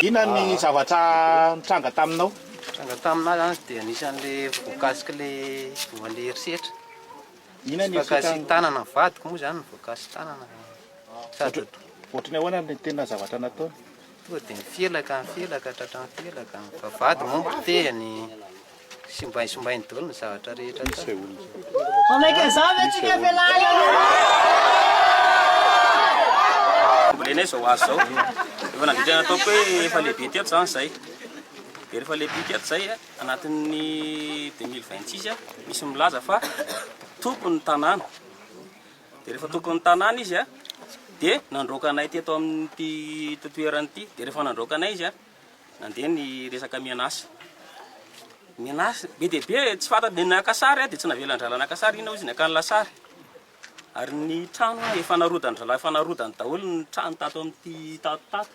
Inona ny zavatra nitranga taminao? Nitranga taminay azy dia anisan'ilay voakasik'ilay voan'ny herisetra. Inona ny voakasi-tanana vadiko moa izany ny voakasi-tanana. Sady Ohatran'ny ahoana ny tena zavatra nataony? Tonga dia nifelaka, nifelaka, tratran'ny felaka. Vavahady moa ny potehiny. Simbainy, simbainy daholo ny zavatra rehetra tao. Very falehibika ato izay anatin'ny deux mille vingt six misy milaza fa tompon'ny tanàna dia rehefa tompon'ny tanàna izy a dia nandroaka anay teto amin'ity toerana ity dia rehefa nandroaka anay izy a nandeha ny resaka mianasa mianasa be dia be tsy fata dia naka sary dia tsy navelan-drahalahy naka sary iny izy naka ny lasary ary ny trano efa narodan-drahalahy efa narodany daholo ny trano tato amin'ity tato tato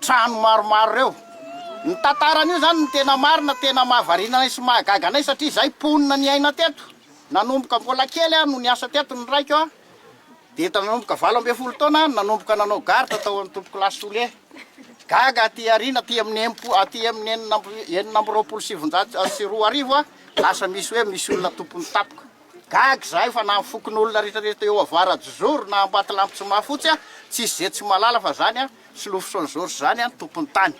trano maromaro ireo. Ny tantaran'io izany no tena marina, tena mahavariana anay sy mahagaga anay satria izahay mponina niaina teto, nanomboka mbola kely aho no niasa teto ny raiko a, dia efa nanomboka valo ambin'ny folo taona aho no nanomboka nanao garde tao Antolokolahy Sole, gaga aty aoriana aty amin'ny enim-po-, aty amin'ny enina amby, enina amby roapolo sy sivinjato sy roa arivo a, lasa misy hoe misy olona tompon'ny tapoka. Gaga izahay fa na ny fokonolona rehetra rehetra teo Avaradjozoro na Ambatolampy tsy mahafotsy an, tsisy ze tsy mahalala fa zany an Solofosonjoro sy zany an Tompontany.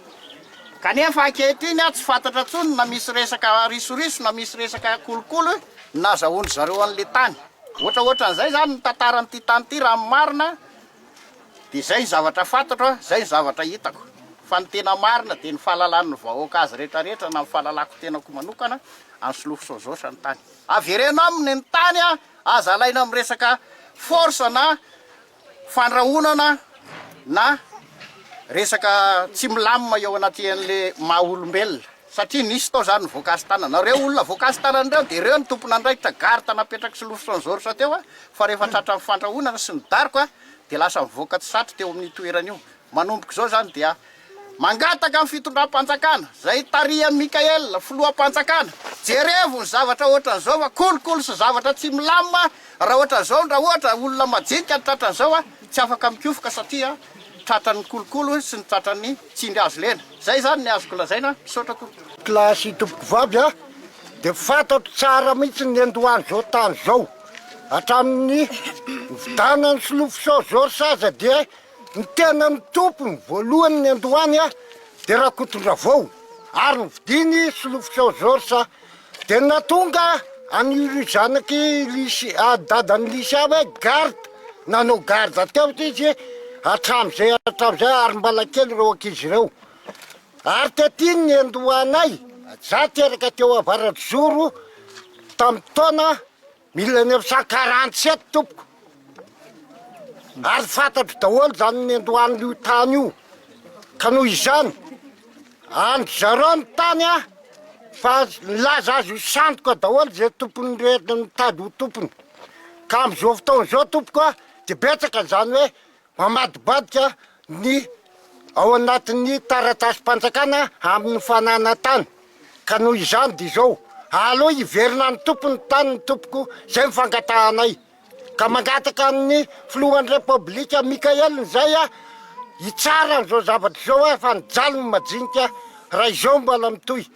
Kanefa ankehitriny an tsy fantatra tsony na misy resaka risoriso na misy resaka kolokolo nazahoan-dry zareo an le tany. Ohatra ohatra an'izay zany ny tantaran' ity tany ity raha ny marina de zay ny zavatra fantatro an, zay ny zavatra hitako. Fa ny tena marina de ny fahalalan' ny vahoaka azy rehetra rehetra na ny fahalalako tenako manokana an Solofosonjoro sy ny tany. Avereno aminy ny tany a! Aza alaina amin'ny resaka force na fandrahonana na resaka tsy milamina eo anatien'le maha olombelona satria nisy tao zany ny voakasy tanana. Reo olona voakasy tanana reo de reo ny tompon'andraikitra garde napetraky sy lofitra ny zoritra teo a! Fa rehefa tratra ny fandrahonana sy ny daroka de lasa mivoaka tsy satry teo amin'io toerana io. Manomboka izao zany dia Mangataka ny fitondram-panjakana, izay tarihan'i Mickaël, filoham-panjakana, jerevo ny zavatra ohatran'izao fa kolikoly sy zavatra tsy milamina raha ohatran'izao ndra ohatra olona majinika ny tratran'izao a, tsy afaka mikofoka satria tratran'ny kolikoly sy ny tratran'ny tsindry azo lena. Izay izany ny azoko lazaina, misaotra tompoko. Classe tompoko vavy a, dia fantatro tsara mihitsy ny niandohan'izao tany izao, hatramin'ny nividianan'i Solofosao Georges aza dia Ny tena nitompo ny voalohany niandohany dia Rakotondravao ary ny vidiny Solofitsao Georges dia natonga an'io ry zanaky Lisy dadan'i Lisy ahy hoe garde, nanao garde teo izy hatramin'izay hatramin'izay ary mbala kely ireo ankizy ireo ary tety ny niandohanay, za teraka teo Avaratozoro tamin'ny taona. Mila ny affaire quarante sept tompoko ary fantatro daholo zany niandohan'io tany io ka noho izany andry zareo ny tany a fa nilaza azy ho sandoka daholo ze tompony rehetra nitady ho tompony ka am'izao fotoana izao tompoko a de betsaka zany hoe Mamadibadika ny ao anatin'ny taratasim-panjakana amin'ny fananana tany ka noho izany dia izao, aleo hiverina any tompony tany ny tompoko izay ny fangatahanay ka mangataka amin'ny filohan'ny repoblika Mickael Nzay hitsara an'izao zavatra izao fa nijaly ny majinika raha izao mbola mitohy.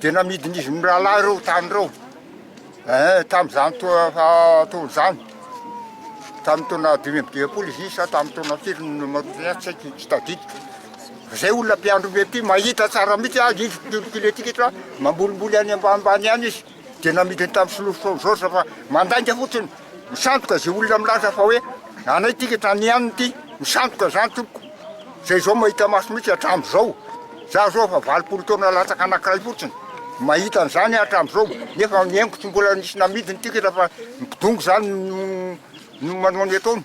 Dia namidin'izy mirahalahy ireo tany ireo, eh, tamin'izany taona izany, tamin'ny taona dimy amby dimampolo izy sa tamin'ny taona firy no marotina ahy, tsy haiko, tsy tadidiko. Izay olona mpiandry omby aty mahita tsara mihitsy azy, izy mpitory kiletikitra, mambolimboly any ambanimbany any izy, dia namidiny tamin'ny solofo Saint Georges fa mandainga fotsiny. Misandoka izay olona milaza fa hoe anay ity ka tany aminy ity, misandoka izany tompoko, izay izao mahita maso mihitsy hatramin'izao, za zao efa valopolo taona latsaka anankiray fotsiny, mahita an'izany aho hatramin'izao, nefa ny aiko tsy mbola nisy namidiny tikatra fa ny mpidongy izany no manao ny ataony.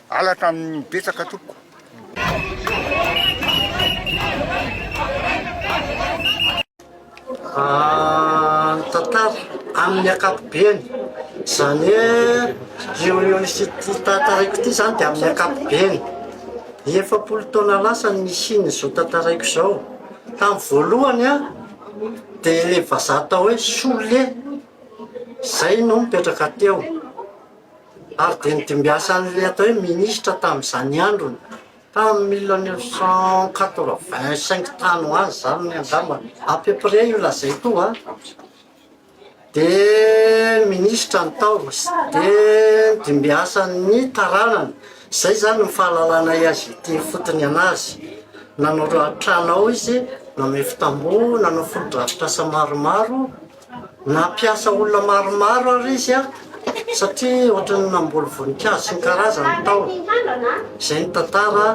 Halatra aminy betsaka tompoko. Ah ny tantara aminy akapobeny zany hoe io io misy ity tantaraiko ity zany de aminy akapobeny efapolo taona lasa no nisiany zao tantaraiko zao tamy voalohany an de le vazaha atao hoe sole zay no mipetraka teo Ary dia nidimbiasan'ilay atao hoe minisitra tamin'izany androny, tamin'ny mille neuf cent quatre-vingt cinq tany ho any izany angamba, à peu près io lazaiko io an, dia minisitra ny tao, dia nidimbiasan'ny taranany, izay izany ny fahalalanay azy ity fotony an'azy, nanao trano ao izy, namefi-tamboho, nanao fotodrafitrasa maromaro. Nampiasa olona maromaro àry izy, satria hoatran'ny namboly voninkazo sy ny karazany tao. Izay ny tantara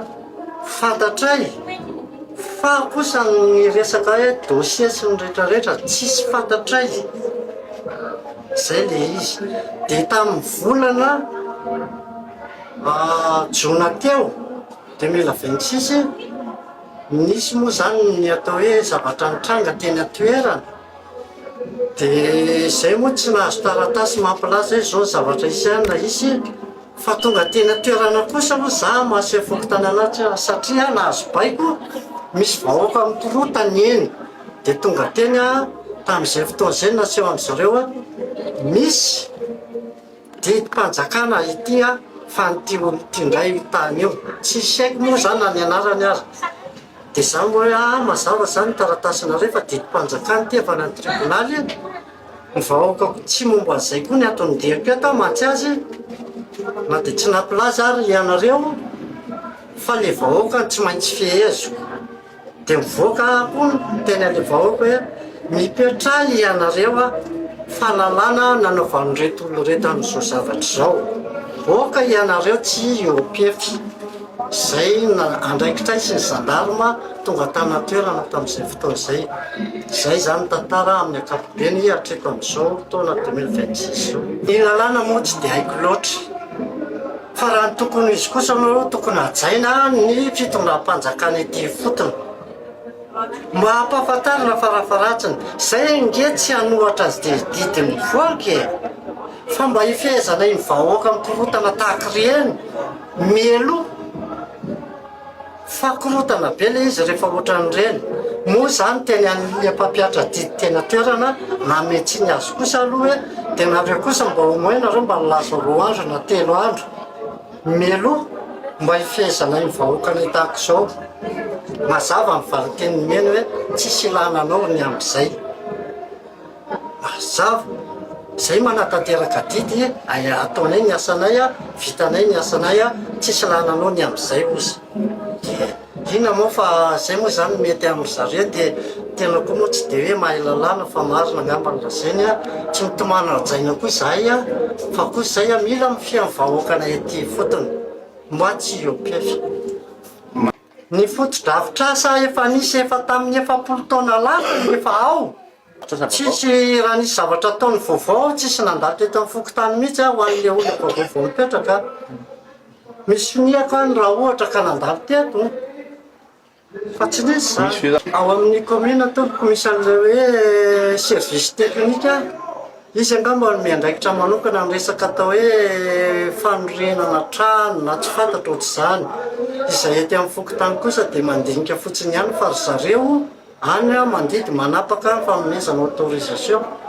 fantatray. Fa kosa ny resaka hoe dossier sy ny rehetrarehetra tsisy fantatray. Izay ilay izy. Dia tamin'ny volana jona teo, deux mille vingt six, nisy moa izany ny atao hoe zavatra nitranga teny an-toerana. Dia izay moa tsy nahazo taratasy mampilaza hoe izao ny zavatra hisy any na hisy e! Fa tonga teny an-toerana kosa aloha za mahaseho ny fokontany an'ahy tsy ahy satria aho nahazo baiko, misy vahoaka mikorontana eny. Dia tonga teny aho tamin'izay fotoana izay no naseho an'izy ireo hoe misy didim-panjakana ety an-fanin'ity olona ity indray io tany io. Tsy isaiko moa izany na ny anarany aza. Dia za moa hoe aa mazava izany taratasinareo fa didim-panjakana ity avy any amin'ny tribonaly e! ny vahoaka koa tsy momba an'izay koa ny ato amin'ny DEP ato aho mantsy azy e! na dia tsy nampilaza ary ianareo fa ilay vahoaka tsy maintsy feheziko dia mivoaka aho koa miteny an'ilay vahoaka hoe mipetraha ianareo a! fa lalàna nanaovan'ireto olona ireto an'izao zavatra izao, mivoaka ianareo tsy eo am-pefy. izay andraikitraisin'ny zandarma tonga tany an-toerana tamin'izay fotoana izay. Izay izany ny tantara amin'ny ankapobeny hatreto amin'izao taona deux mille vingt six izao. Ny lalàna moa tsy dia haiko loatra, fa raha ny tokony ho izy kosa aloha tokony hajaina ny fitondram-panjakana ety ifotony. Mba hampahafantarina farafaharatsiny, izay ange tsy hanohatra azy didin'ny vohoka e! Fa mba hifehezana iny vahoaka mikorotana tahaka ireny mialoha fa korotana be ilay izy rehefa ohatran'ireny. Moa izany teny an'ilay mpampiatra didy teny an-toerana nanome tsiny azy kosa aloha hoe dia nareo kosa mba au moins nareo mba nilaza roa andro na telo andro mialoha mba hifehezana iny vahoakanay tahaka izao. Mazava ny valinteny nomeny hoe tsisy ilana anao ny amin'izay. Mazava e! Izay manatanteraka adidy ay ataonay ny asanay a, vitanay ny asanay a, tsisy lalanao ny amin'izay ozy. Dia inona moa fa izay moa izany mety amin'i zareo dia tena koa moa tsy dia hoe mahay lalàna fa marina angamba ny lazainy a, tsy mitomany ara-jaina koa izahay a, fa koa izay a mila mifehy ny vahoakanay aty ifotony. Moi tsy iopf. Ny fotodrafitrasa efa nisy efa tamin'ny efapolo taona lasa no efa ao. Tsisy raha nisy zavatra ataony vaovao tsisy nandalo teto amin'ny fokontany mihitsy aho ho an'ilay olona vaovao vao hipetraka. Misy finihako any raha ohatra ka nandalo teto fa tsy nisy izany. Ao amin'ny commune tompoko misy an'ilay hoe service technique. Hisy angamba ny miandraikitra manokana ny resaka atao hoe fanorenana trano na tsy fantatra ohatr'izany. Izay ety amin'ny fokontany kosa dia mandinika fotsiny ihany fa ry zareo any mandidy manapaka ny fanomezana autorisation.